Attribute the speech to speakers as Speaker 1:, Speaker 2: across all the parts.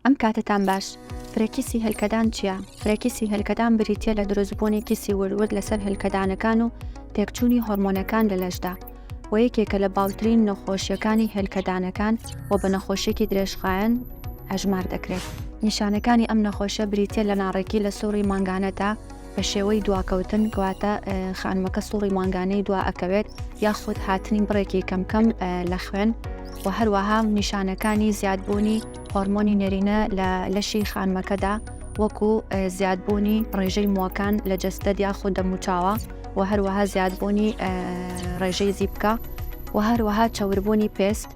Speaker 1: ئەم کاتەتان باش. فرە کیسی هێلکەدان چیە؟ فرە کیسی هێلکەدان بریتیە لە دروستبوونی کیسی ورد ورد لەسەر هێلکەدانەکان و تێکچوونی هۆرمۆنەکان لە لەشدا و یەکێکە لە باوترین نەخۆشیەکانی هێلکەدانەکان و بە نەخۆشیەکی درێژخایەن ئەژمار دەکرێت. نیشانەکانی ئەم نەخۆشیە بریتیە لە ناڕێکی لە سوڕی مانگانەدا، بە شێوەی دواکەوتن کەواتە خانمەکە سوڕی مانگانەی دوا ئەکەوێت یاخود هاتنی بڕێکی کەمکەم لە خوێن و هەروەها نیشانەکانی زیادبوونی هۆرمۆنی نێرینە لە لەشی خانمەکەدا وەکو زیادبوونی ڕێژەی مووەکان لە جەستەد یاخود دەموچاوە و هەروەها زیادبوونی ڕێژەی زیبکە و هەروەها چەوربوونی پێست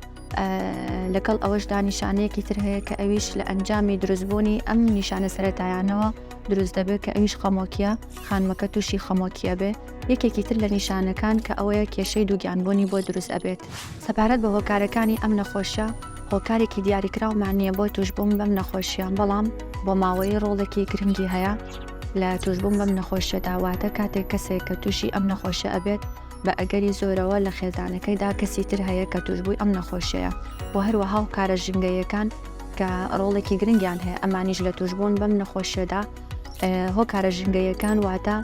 Speaker 1: لەگەڵ ئەوەشدا نیشانەیەکی تر هەیە کە ئەویش لە ئەنجامی دروستبوونی ئەم نیشانە سەتایانەوە دروست دەبێت کە ئەویش خەمۆکیە خانمەکە تووشی خەمۆکیە بێ یەکێکی تر لە نیشانەکان کە ئەوەیە کێشەی دووگیانبوونی بۆ دروست ئەبێت سەبارەت بە هۆکارەکانی ئەم نەخۆشە هۆکارێکی دیاریکراومان نییە بۆ توشببووم بەم نەخۆشیان بەڵام بۆ ماوەی ڕۆڵێکی گرنگی هەیە لە توشببووم بەم نەخۆشیەداواتە کاتێک کەسێک کە تووشی ئەم نەخۆشە ئەبێت بە ئەگەری زۆرەوە لە خێزانەکەیدا کەسی تر هەیە کە تووشبووی ئەم نەخۆشیەیە و هەروەها هۆکارە ژینگەییەکان کە ڕۆڵێکی گرنگیان هەیە ئەمانیش لە تووشبوون بەم نەخۆشیەدا هۆکارە ژینگەییەکان واتە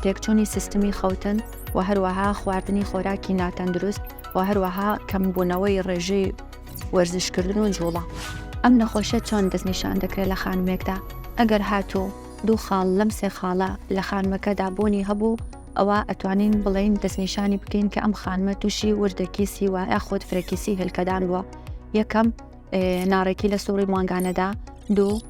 Speaker 1: تێکچوونی سیستمی خەوتن و هەروەها خواردنی خۆراکی ناتەندروست و هەروەها کەمبوونەوەی ڕێژەی وەرزشکردن و جوڵە ئەم نەخۆشە چۆن دەستنیشان دەکرێت لە خانمێکدا ئەگەر هاتوو دوو خاڵ لەم سێ خاڵە لە خانمەکەدا بوونی هەبوو ئەوا ئەتوانین بڵێین دەستنیشانی بکەین کە ئەم خانمە تووشی وردەکیسی وە یاخود فرەکیسی هێلکەدان بووە یەکەم ناڕێکی لە سوڕی مانگانەدا دوو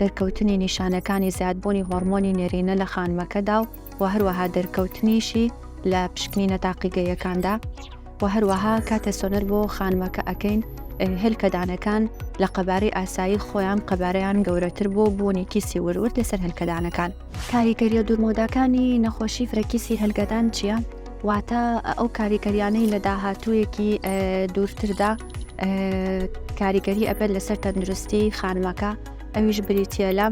Speaker 1: دەرکەوتنی نیشانەکانی زیادبوونی هۆرمۆنی نێرینە لە خانمەکەدا و و هەروەها دەرکەوتنیشی لە پشکنینە تاقیگەیەکاندا و هەروەها کاتێ سۆنەر بۆ خانمەکە ئەەکەین هێلکەدانەکان لە قەبارەی ئاسایی خۆیان قەبارەیان گەورەتر بۆ بوونی کیسی ورورد لەسەر هەلکەدانەکان کاریگەرییە دوورمەوداکانی نەخۆشی فرەکی سیهەلگەدان چییە، واتە ئەو کاریگەرییانەی لە داهاتوویەکی دوورتردا کاریگەری ئەبێت لەسەر تەندروستی خانمەکە، ئەویش بریتە لە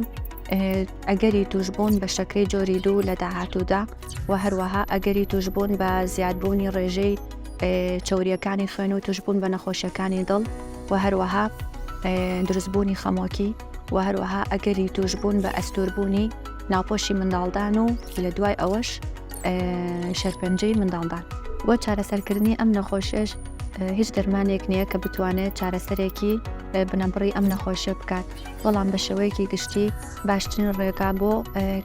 Speaker 1: ئەگەری توشبوون بە شەکری جۆری دوو لە داهاتوودا و هەروەها ئەگەری توشبوون بە زیادبوونی ڕێژەی چوریەکانی خوێن و توشبوون بە نەخۆشیەکانی دڵ و هەروەها دروستبوونی خەمۆکی. و هەروەها ئەگەری توشبوون بە ئەستوربوونی ناپۆشی منداڵدان و لە دوای ئەوەش شەرپەنجەی منداڵدان بۆ چارەسەرکردنی ئەم نەخۆشێش هیچ دەرمانێک نییە کە بتوانێت چارەسەرێکی بنەبڕی ئەم نەخۆشە بکات بەڵام بە شێوەیەکی گشتی باشترین ڕێگا بۆ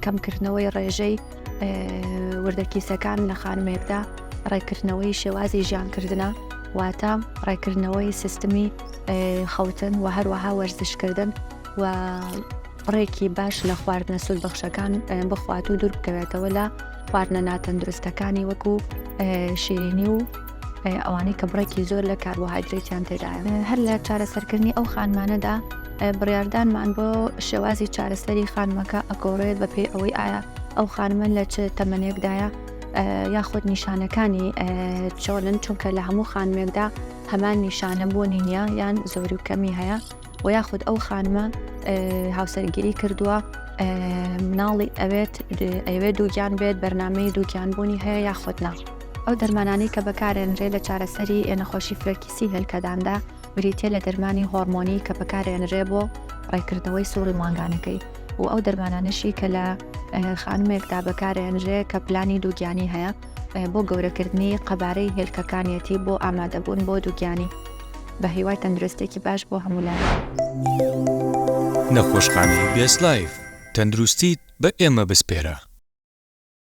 Speaker 1: کەمکردنەوەی ڕێژەی وردە کیسەکان لە خانمێکدا ڕێکردنەوەی شێوازی ژیانکردە واتە ڕێکردنەوەی سیستمی خەوتن و هەروەها وەرزشکردن و ڕێکی باش لە خواردنە سود بەخشەکان بخوات و دوور بکەوێتەوە لە خواردنە ناتەندروستەکانی وەکو شیرینی و ئەوانەی کە بڕێکی زۆر لە کاربۆهایدرێتیان تێدایە هەر لە چارەسەرکردنی ئەو خانمانەدا بڕاردانمان بۆ شێوازی چارەسەری خانمەکە ئەگۆڕێت بە پێی ئەوەی ئایا ئەو خانمە لە چ تەمەنێکدایە یاخود نیشانەکانی چۆنن چونکە لە هەموو خانمێکدا هەمان نیشانە بۆ نینە یان زۆری و کەمی هەیە و یاخود ئەو خانمە هاوسەرگیری کردووە مناڵی ئەوێت ئەوێ دووگیان بێت بەرنمەی دووگیان بوونی هەیە یاخود نا ئەو دەرمانانەی کە بەکارێنرێ لە چارەسەری نەخۆشی فرەرکیسی هێلکەداندا بریتە لە دەرمانی هۆرمۆنی کە بەکارێنرێ بۆ ڕێکردنەوەی سوڕی مانگانەکەی و ئەو دەرمانانەشی کە لە خانمێکدا بەکارێنرێ کە پلانی دووگیانی هەیە بۆ گەورەکردنی قەبارەی هێلکەکانیەتی بۆ ئامادەبوون بۆ دووگیانی بە هیوای تەندروستێکی باش بۆ هەموولایان.
Speaker 2: نەخۆشخانەی بێست لایف تەندروستیت بە ئێمە بسپێرە.